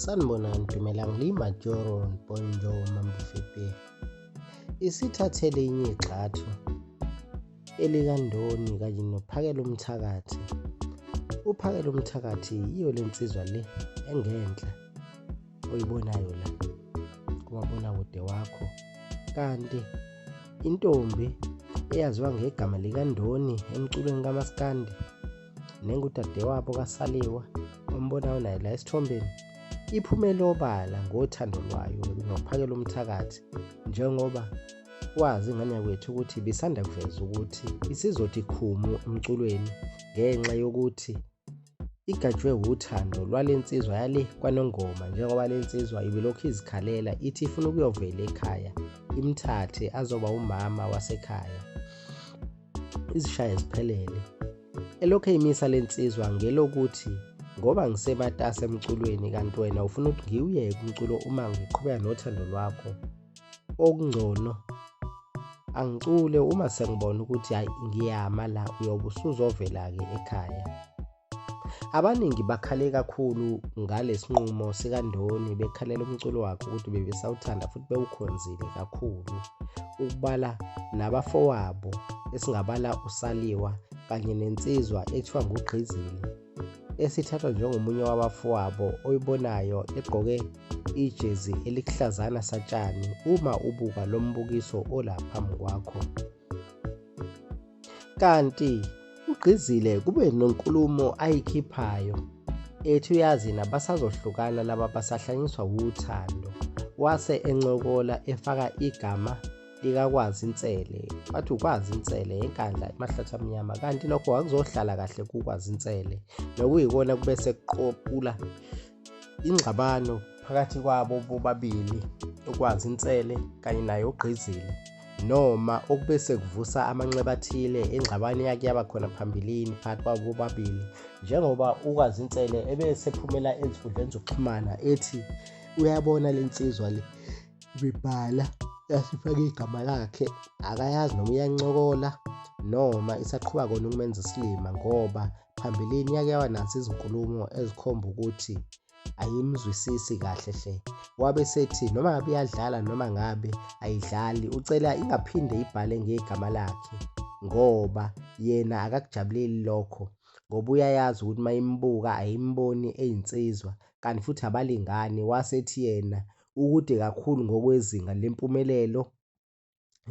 sanibonani dumelang le imajoron bonjo mambufepe isithathele inye igxathu elikandoni kanye nophakela umthakathi uphakela umthakathi yiyo le nsizwa le engenhla oyibonayo la kumabona kude wakho kanti intombi eyaziwa ngegama likandoni emculweni kamaskandi nengudadewabo kasaliwa ombonayo naye la esithombeni iphumele obala ngothando lwayo nokuphakela umthakathi njengoba kwazi ingane yakwethu ukuthi bisanda kuveza ukuthi isizothi khumu emculweni ngenxa yokuthi igajwe wuthando lwale nsizwa yale kwanongoma njengoba le nsizwa ibilokhu izikhalela ithi ifuna ukuyovela ekhaya imthathe azoba umama wasekhaya izishaye ziphelele elokhu eyimisa le nsizwa ngelokuthi ngoba ngisematasa emculweni kanti wena ufuna ukuthi ngiwuyeke umculo uma ngiqhubeka nothando lwakho okungcono angicule uma sengibona ukuthi hhayi ngiyama la uyobe usuzovela-ke ekhaya Abaningi bakhale kakhulu ngalesinqumo sikaNdoni bekhalela umculo wakhe ukuthi bebesawuthanda futhi bewukhonzile kakhulu ukubala nabafowabo esingabala uSaliwa kanye nensizwa ethiwa nguGqizini esithathwa njengomunye wabafowabo oyibonayo egqoke ijezi elihlazana satshani uma ubuka lo mbukiso olaphambi kwakho. Kanti ugqizile kube nonkulumo ayikhiphayo ethi uyazi nabasazohlukana laba basahlanyiswa wuthando wase encokola efaka igama likakwazi insele wathi ukwazi insele enkandla emahlathi amnyama kanti lokho wakuzohlala kahle kukwazi insele nokuyikona kube sekuqopula ingxabano phakathi kwabo bobabili ukwazi insele kanye naye ugqizile noma okube sekuvusa amanxeba athile engxabano eyake yaba khona phambilini phakathi kwabo bobabili njengoba ukwazi insele ebesephumela ezinkundleni zokuxhumana ethi uyabona le nsizwa le ibibhala yasifake igama lakhe akayazi noma iyancokola noma isaqhuba kona ukumenza isilima ngoba phambilini yake wanazo izinkulumo ezikhomba ukuthi ayimzwisisi kahle hle wabe sethi noma ngabe iyadlala noma ngabe ayidlali ucela ingaphinde ibhale ngegama lakhe ngoba yena akakujabuleli lokho ngoba uyayazi ukuthi uma imbuka ayimboni eyinsizwa kanti futhi abalingani wasethi yena ukude kakhulu ngokwezinga lempumelelo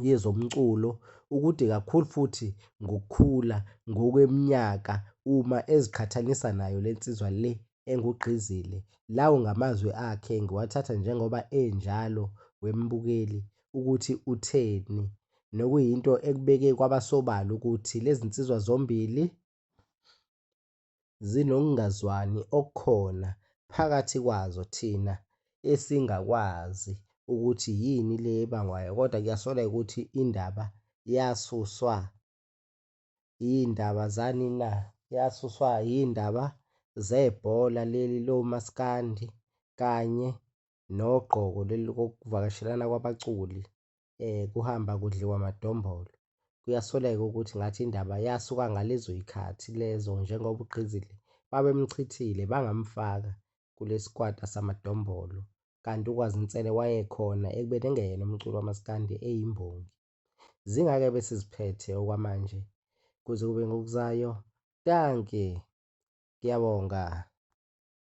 yezomculo ukude kakhulu futhi ngokukhula ngokweminyaka uma eziqhathanisa nayo le nsizwa le engugqizile. Lawo ngamazwi akhe ngiwathatha njengoba enjalo wembukeli ukuthi utheni nokuyinto ekubeke kwabasobala ukuthi lezi nsizwa zombili zinokungazwani okukhona phakathi kwazo thina esingakwazi ukuthi yini le ebangwayo kodwa kuyasoleka ukuthi indaba yasuswa yindaba zani na yasuswa yindaba zebhola leli lomaskandi kanye nogqoko leli kokuvakashelana kwabaculi eh kuhamba kudliwa madombolo kuyasoleka ukuthi ngathi indaba yasuka ngalezo ikhathi lezo njengoba ugqizile babemchithile bangamfaka kulesikwata samadombolo kanti ukwazinsele wayekhona ekubeni engeyena umculo wamaskandi eyimbongi zingake bese ziphethe okwamanje kuze kube ngokuzayo danke ngiyabonga